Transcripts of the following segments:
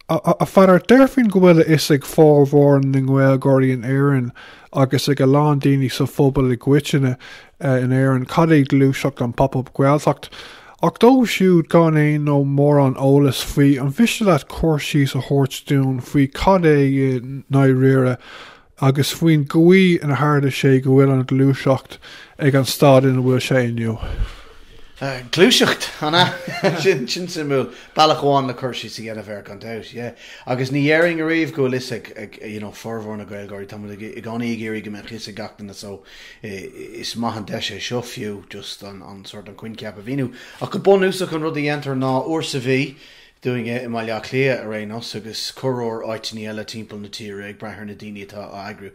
A Pheadair, déarfainn go bhfuil a fhios ag formhór na nGaeilgeoirí in Éirinn agus ag a lán daoine sa phobal i gcoitinne in Éirinn cad é gluaiseacht an Pop Up Gaeltacht. Ach dóibh siúd gan aon nó mórán eolais faoi, an mhiste leat cur síos a thabhairt dúinn faoi cad é i ndáiríre agus faoin gcaoi inar tharla sé go bhfuil an ghluaiseacht ag an staid ina bhfuil sé inniu. Gluaiseacht, an ea? Sin suimiúil. Bealach amháin le cur síos a dhéanamh air, gan dabht, yeah. Agus ní dhéarfainn ariamh go bhfuil fhios ag, you know, formhór na Gaeilgeoirí. Tá muid i gcónaí ag iarraidh go mbeadh fhios ag gach duine, so is maith an deis é seo fiú, just an, an, sórt, an coincheap a mhíniú. Ach go bunúsach, an rud a dhéantar ná, uair sa mhí, dúinne i mBaile Átha Cliath ar aon nós, agus corruair áiteanna eile timpeall na tíre, ag brath ar na daoine atá á eagrú.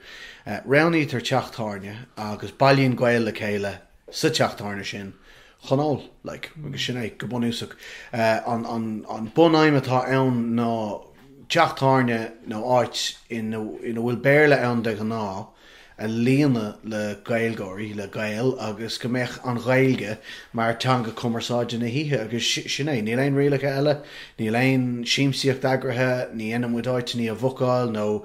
Roghnaítear teach tábhairne agus bailíonn Gaeil le chéile sa teach tábhairne sin chun ól, like, agus sin é, go bunúsach. An bunaidhm atá ann ná teach tábhairne nó áit ina bhfuil Béarla ann de ghnáth, a líonadh le Gaeilgeoirí, le Gaeil agus go mbeadh an Ghaeilge mar teanga cumarsáide na hoíche agus sin é. Níl aon rialacha eile, níl aon siamsaíocht eagraithe, ní dhéanann muid áiteanna a bhookáil nó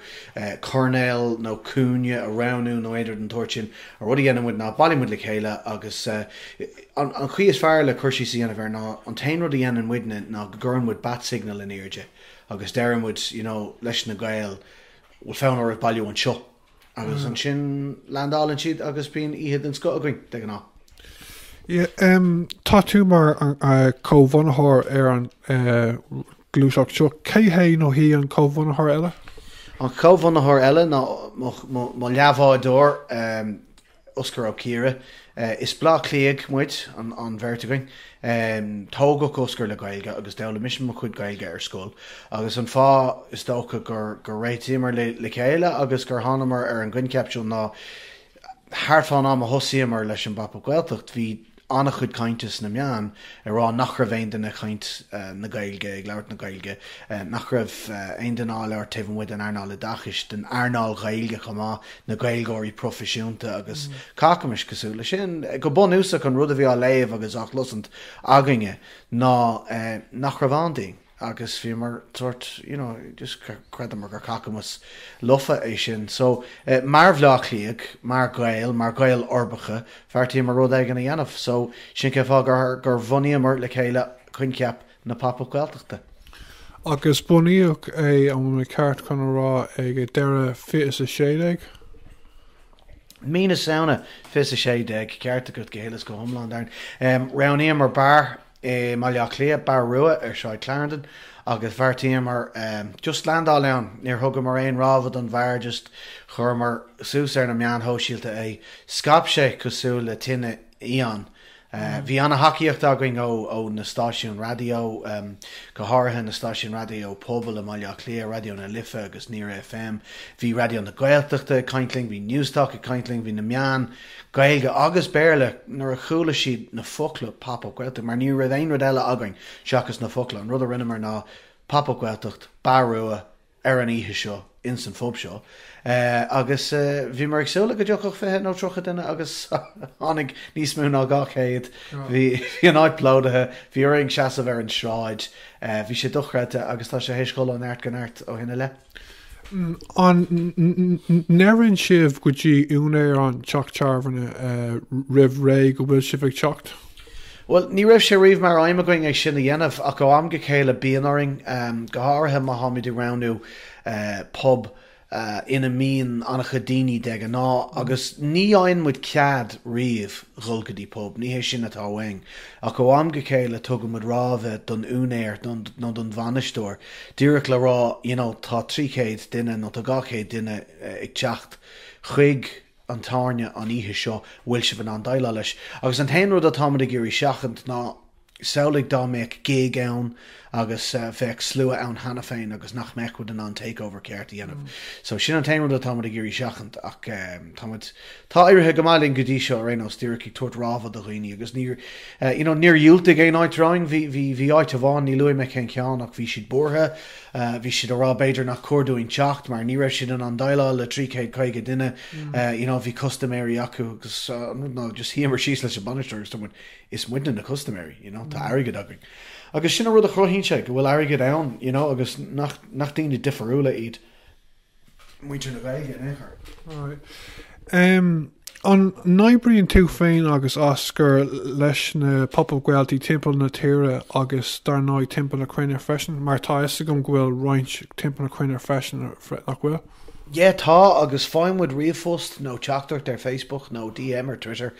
coirnéal nó cúinne a roghnú nó aon rud den tsórt sin. An rud a dhéanann muid ná bailíonn muid le chéile agus an chaoi is fearr le cur síos a dhéanamh air ná an t-aon rud a dhéanann muidne ná go gcuireann muid bat signal in airde agus deireann muid, you know, leis na Gaeil, bhfuil fonn oraibh bailiú anseo agus ansin landálann siad agus bíonn oíche den scoth againn de ghnáth. Tá tú mar comhbhunaitheoir ar an ghluaiseacht seo. Cé hé nó hí an comhbhunaitheoir eile? An comhbhunaitheoir eile ná mo leathbhádóir, Osgur Ó Ciardha, is Bleá Cliathaigh muid, an bheirt againn. Tógadh Osgur le Gaeilge agus d'fhoghlaim mise mo chuid Gaeilge ar scoil agus an fáth is dócha gur réitíomar le chéile agus gur thánamar ar an gcoincheap seo ná thart fán am a thosaíomar leis an bPop Up Gaeltacht bhí an-chuid cainte sna meáin ag rá nach raibh aon duine ag caint na Gaeilge, ag labhairt na Gaeilge, nach raibh aon duine á labhairt taobh amuigh den earnáil oideachais, den earnáil Ghaeilge chomh maith, na Gaeilgeoirí proifisiúnta agus cacamas cosúil leis sin. Go bunúsach an rud a bhí á léamh agus á chloisint againne ná nach raibh ann dúinn. agus bhíomar sórt you know just chreideamar gur cacamas lofa é sin so mar Bhleá Cliathaigh mar Ghaeil mar Ghaeil uirbeacha bheartaíomar rud éigin a dhéanamh so sin cén fáth gur gur bhunaíomar le chéile coincheap na Pop Up Gaeltachta. Agus bunaíodh é an bhfuil mé ceart chun a rá ag deireadh fiche is a sé déag? Mí na Samhna fiche is a sé déag ceart agat go huile is go hiomlán Darren. Roghnaíomar beár. I mBaile Átha Cliath, Bar Rua ar Shráid Clarendon agus bheartaíomar just landáil ann. Níor thugamar aon rábhadh don bheár just chuireamar suas ar na meáin shóisialta é. Scaip sé cosúil le tine fhiáin. Bhí ana-thacaíocht againn ó na stáisiúin raidió, go háirithe na stáisiúin raidió pobail i mBaile Átha Cliath, Raidió na Life agus Near FM. Bhí Raidió na Gaeltachta ag caint linn, bhí Newstalk ag caint linn, bhí na meáin. Gaeilge agus Béarla nuair a chuala siad na focla Pop Up Gaeltacht mar ní raibh aon rud eile againn seachas na focla. An rud a rinneamar ná Pop Up Gaeltacht, Bar Rua ar an oíche seo ins an phub seo agus bhíomar ag súil le go dtiocfadh fiche nó tríocha duine agus tháinig níos mó ná dhá chéad. Bhí an áit plódaithe, bhí orainn seasamh ar an sráid. Bhí sé dochreidte agus tá sé théis dhul ó neart go neart ó shin i leith. An ndeireann sibh go dtí úinéir an teach tábhairne roimh ré go bhfuil sibh ag teacht? Bhuel, ní raibh sé riamh mar aidhm againn é sin a dhéanamh ach ó am go chéile bíonn orainn, go háirithe má táimid ag roghnú pub ina mbíonn an-chuid daoine de ghnáth agus ní fhaigheann muid cead riamh dhul go dtí pub, ní hé sin atá uainn, ach ó am go chéile tugaimid rabhadh don úinéir nó don bhainisteoir. díreach le rá you know tá 300 duine nó tá 200 duine ag teacht chuig an tábhairne an oíche seo, bhfuil sibh in ann déileáil leis? Agus an t-aon rud atáimid ag iarraidh seachaint ná samhlaigh dá mbeadh gig ann agus bheadh slua ann cheana féin agus nach mbeadh muid in ann takeover ceart a dhéanamh. So sin an t-aon rud atáimid ag iarraidh seachaint ach táimid. Tá éirithe go maith linn go dtí seo ar aon nós, díreach ag tabhairt rabhadh do dhaoine agus níor, you know, níor dhiúltaigh aon áit romhainn. Bhí, bhí, bhí áit amháin, ní luafaidh mé cén ceann ach bhí siad buartha, bhí siad a' rá b'fhéidir nach cóir dúinn teacht mar ní raibh siad in ann déileáil le trí chéad caoga duine, you know, bhí custaiméirí acu agus an rud ná just shuíomar síos leis an bainisteoir agus dúirt muid is muidne na custaiméirí, you know, tá airgead againn. Agus sin an rud a chruthaíonn sé, go bhfuil airgead ann, you know, agus nach, nach daoine difiriúla iad. muintir na Gaeilge in aon chor. Alright. An n-oibríonn tú féin agus Osgur leis na Pop Up Gaeltaí timpeall na tíre agus dar ndóigh timpeall na cruinne freisin, mar tá 'fhios agam go bhfuil roinnt timpeall na cruinne freisin, nach bhfuil? Yeah tá agus faigheann muid ríomhphost nó teachtaireacht ar Facebook nó DM ar Twitter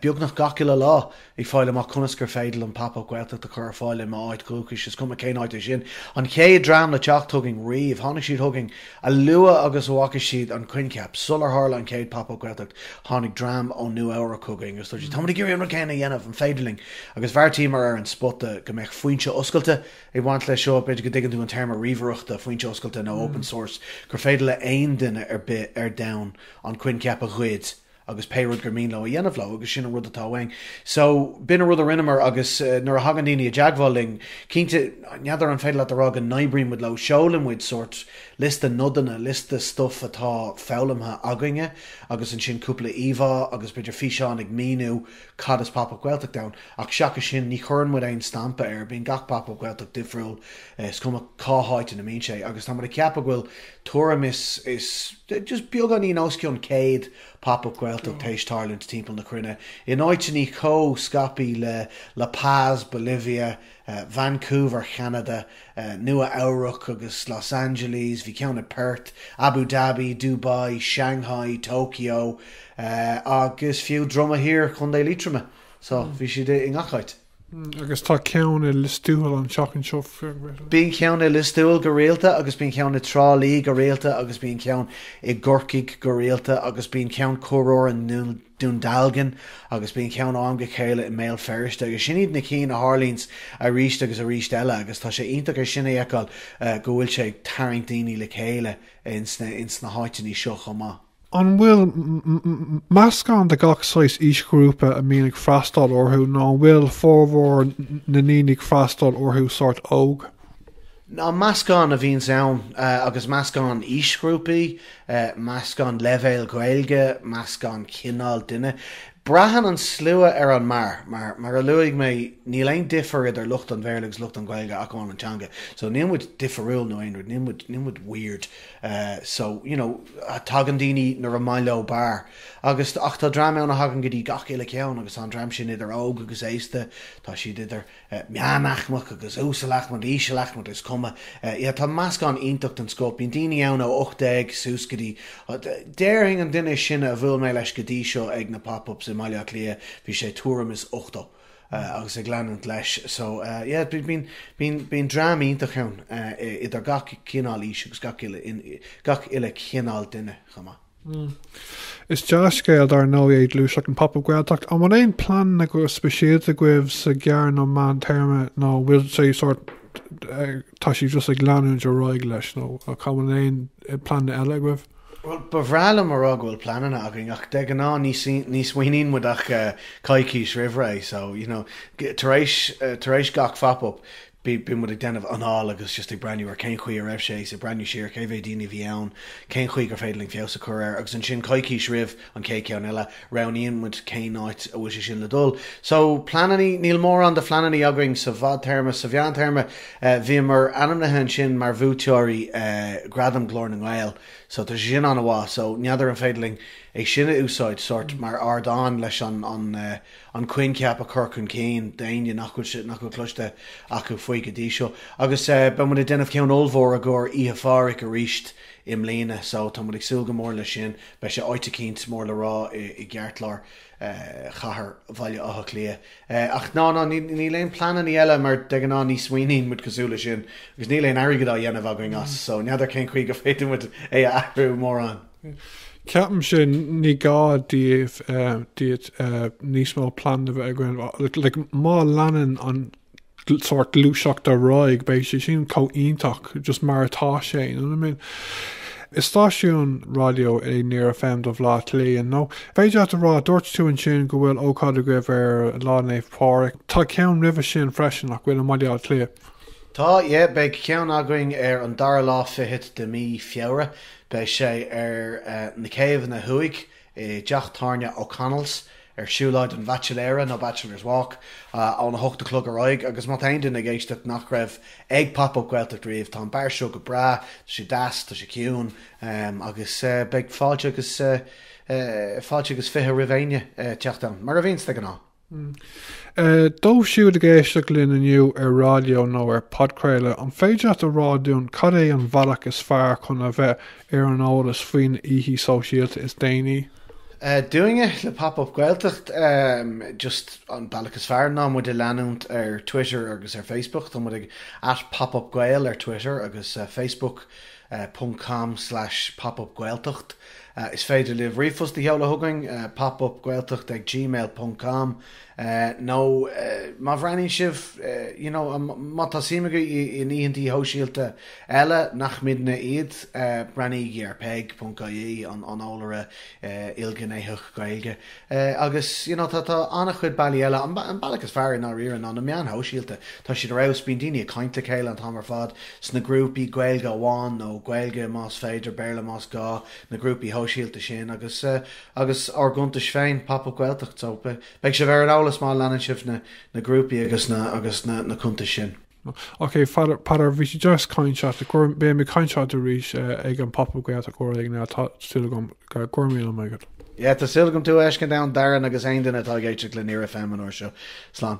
beagnach gach uile lá. Ag fáil amach conas gur féidir Pop Up Gaeltacht a chur ar fáil i m'áit dhúchais, is cuma cén áit é sin. An chéad dream le teacht chugainn riamh, tháinig siad chugainn a luaithe agus a bhfaca siad an coincheap. Sular tharla an chéad Pop Up Gaeltacht, tháinig dream ó Nua Eabhrac chugainn agus dúirt siad, Táimid ag iarraidh an rud céanna a dhéanamh, an féidir linn? Agus bheartaíomar ar an spota go mbeadh foinse oscailte ag baint leis seo, b'fhéidir go dtuigeann tú an téarma ríomhaireachta, foinse oscailte nó open source, gur féidir le haon duine ar bith ar domhan an coincheap a ghoid, agus pé rud gur mian leo a dhéanamh leo agus sin an rud atá uainn. So, b'in an rud a rinneamar agus nuair a thagann daoine i dteagmháil linn, cinnte, n'fheadar an féidir leat a rá go n-oibríonn muid leo, seolann muid sórt liosta nodanna, liosta stuif atá foghlamtha againne agus ansin cúpla íomhá agus b'fhéidir físeán ag míniú cad is Pop Up Gaeltacht ann ach seachas sin ní chuireann muid aon stampa air, bíonn gach Pop Up Gaeltacht difriúil, is cuma cá háit ina mbíonn sé agus tá muid ag ceapadh go bhfuil tuairim is just beagáinín os cionn 100 Pop Up Gaeltacht théis tarlúint timpeall na cruinne, in áiteannaí chomh scaipí le La Paz, Bolivia, Vancouver, Ceanada, Nua Eabhrac agus Los Angeles, bhí ceann i Perth, Abu Dhabi, Dubai, Shanghai, Tokyo agus fiú Droim Dhá Thiar, Co. Liatroma. So, bhí siad i ngach áit. Agus tá ceann i Liostuathail an tseachtain seo freisin. Bíonn ceann i Liostuathail go rialta agus bíonn ceann i Trá Lí go rialta agus bíonn ceann i gCorcaigh go rialta agus bíonn ceann corruair ann i nDún Dealgan agus bíonn ceann am go chéile i mBéal Feirste agus sin iad na cinn a tharlaíonns arís agus arís eile agus tá sé iontach ansin a fheiceáil go bhfuil sé ag tarraingt daoine le chéile ins na háiteannaí seo chomh maith. An bhfuil meascán de gach saghas aoisghrúpa a bhíonn ag freastáil orthu nó an bhfuil formhór na ndaoine a bhíonn ag freastáil orthu sort óg? Á meascán a bhíonns ann agus meascán aoisghrúpaí, meascán leibhéal Gaeilge, meascán cineáil duine. Braitheann an slua ar an mbeár. Mar a luaigh mé níl aon difear idir lucht an Bhéarla agus lucht an Ghaeilge ach amháin an teanga. So níl muid difiriúil nó aon rud, níl muid weird. so, you know, tagann daoine nuair is maith leo beár agus, ach tá dream ann a thagann go dtí gach uile ceann agus tá an dream sin idir óg agus aosta, tá siad idir meánaicmeach agus uasalaicmeach, ísealaicmeach, is cuma, yeah tá meascán iontach den scoth, bíonn daoine ann ó ocht déag suas go dtí, déarfainn an duine is sine a bhuail mé leis go dtí seo ag na Pop Ups i mBaile Átha Cliath, bhí sé tuairim is ochtó. agus ag leanúint leis. So yeah bíonn dream iontach ann idir gach cineál aois agus gach uile chineál duine chomh maith. Is dea-scéal, dar ndóigh, é gluaiseacht an Pop-Up Gaeltacht. An bhfuil aon phlean go speisialta agaibh sa ghearr nó meán téarma nó an bhfuil sé sort tá sibh just ag leanúint ar aghaidh leis nó an bhfuil aon pleananna eile agaibh? Bhuel, ba bhreá liom a rá go bhfuil pleananna againn ach de ghnáth ní ní smaoiníonn muid ach coicís roimh ré so you know tar éis tar éis gach phop up bíonn muid ag déanamh anáil agus just ag breathnú ar cén chaoi a raibh sé ag breathnú siar cé mhéad daoine a bhí ann, cén chaoi gur féidir linn feabhas a chur air agus ansin coicís roimh an chéad cheann eile, roghnaíonn muid cén áit a bhfuil sé sin le dul. So, pleanannaí, níl mórán pleanannaí againn sa bhfadtéarma, sa mheántéarma, bhíomar ainmnithe ansin mar bhuaiteoirí Ghradam Ghlór na nGael, so tá sé sin an-mhaith, so n'fheadar an féidir linn é sin a úsáid sórt mar ardán leis an an coincheap a chur chun cinn d'éinne nach bhfuil sé, nach bhfuil cloiste acu faoi go dtí seo. Agus beidh muid ag déanamh ceann ollmhór i gcomhair Oíche 'le Pháraic aríst, i mbliana so tá muid ag súil go mór leis sin. Beidh sé áit eicínt mór le rá i gceartlár chathair Bhaile Átha Cliath. Ach no, no, níl aon pleanannaí eile mar de ghnáth ní smaoiníonn muid cosúil leis sin agus níl aon airgead á dhéanamh againn as so n'fheadar cén chaoi gur féidir muid é a athrú mórán. Ceapaimse ní gá daoibh, níos mó pleananna bheith agaibh. Like, má leanann an sórt gluaiseacht ar aghaidh, beidh sé sin chomh iontach just mar atá sé, you know what I mean? Is stáisiún raidió é Near FM do Bhleá Cliath, you know? An féidir leat a rá, dúirt tú ansin go bhfuil ócáid agaibh ar Lá Naomh Pádraig. Tá ceann roimhe sin freisin, nach bhfuil, i mBaile Átha Cliath? Tá, yeah, beidh ceann againn ar an dara lá fichead de mhí Feabhra. Beidh sé ar na céibheanna thuaidh, i dTeach Tábhairne O'Connell's ar Siúlóid an Bhaitsiléara nó Bachelor's Walk óna hocht a chlog ar aghaidh agus má tá aon duine ag éisteacht nach raibh ag Pop Up Gaeltacht riamh, tá an beár seo go breá, tá sé deas, tá sé ciúin agus beidh fáilte agus fáilte agus fiche roimh éinne a theacht ann, mar a bhíonns de ghnáth. Dóibh siúd ag éisteacht linn inniu ar raidió nó ar phodchraoladh, an féidir leat a rá dúinn cad é an bhealach is fearr chun a bheith ar an eolas faoi na hoíchí sóisialta is déanaí? Dúinne, le Pop Up Gaeltacht, just an bealach is fearr ná muid a leanúint ar Twitter agus ar Facebook. Tá muid ag @popupgael ar Twitter agus Facebook. .com/popup Gaeltacht Is féidir libh ríomhphost a sheoladh chugainn, popupgaeltacht ag gmail.com, nó má bhreathnaíonn sibh, you know, má tá suim agaibh in oícheantaí sóisialta eile nach muidne iad, breathnaígí ar peig.ie, an t-eolaire ilghnéitheach Gaeilge agus you know tá an-chuid bealaí eile, an bealach is fearr i ndáiríre ná na meáin shóisialta, tá siad ar fheabhas, bíonn daoine ag caint le chéile an t-am ar fad sna grúpaí, Gaeilge amháin nó Gaeilge más féidir, Béarla más gá, na grúpaí sóisialta sin agus agus ár gcuntais féin, Pop Up Gaeltacht so beidh sibh ar an eolas má leanann sibh na grúpaí agus na agus na cuntais sin. Ok, Peadar, bhí sé deas ag caint leat. Beidh mé ag caint leat arís ag an Pop Up Gaeltacht uair éigin eile. Tá súil agam. Go raibh míle maith agat. Yeah, tá súil agam tú a fheiscint ann, Darren, agus aon duine atá ag éisteacht le Near FM an uair seo. Slán.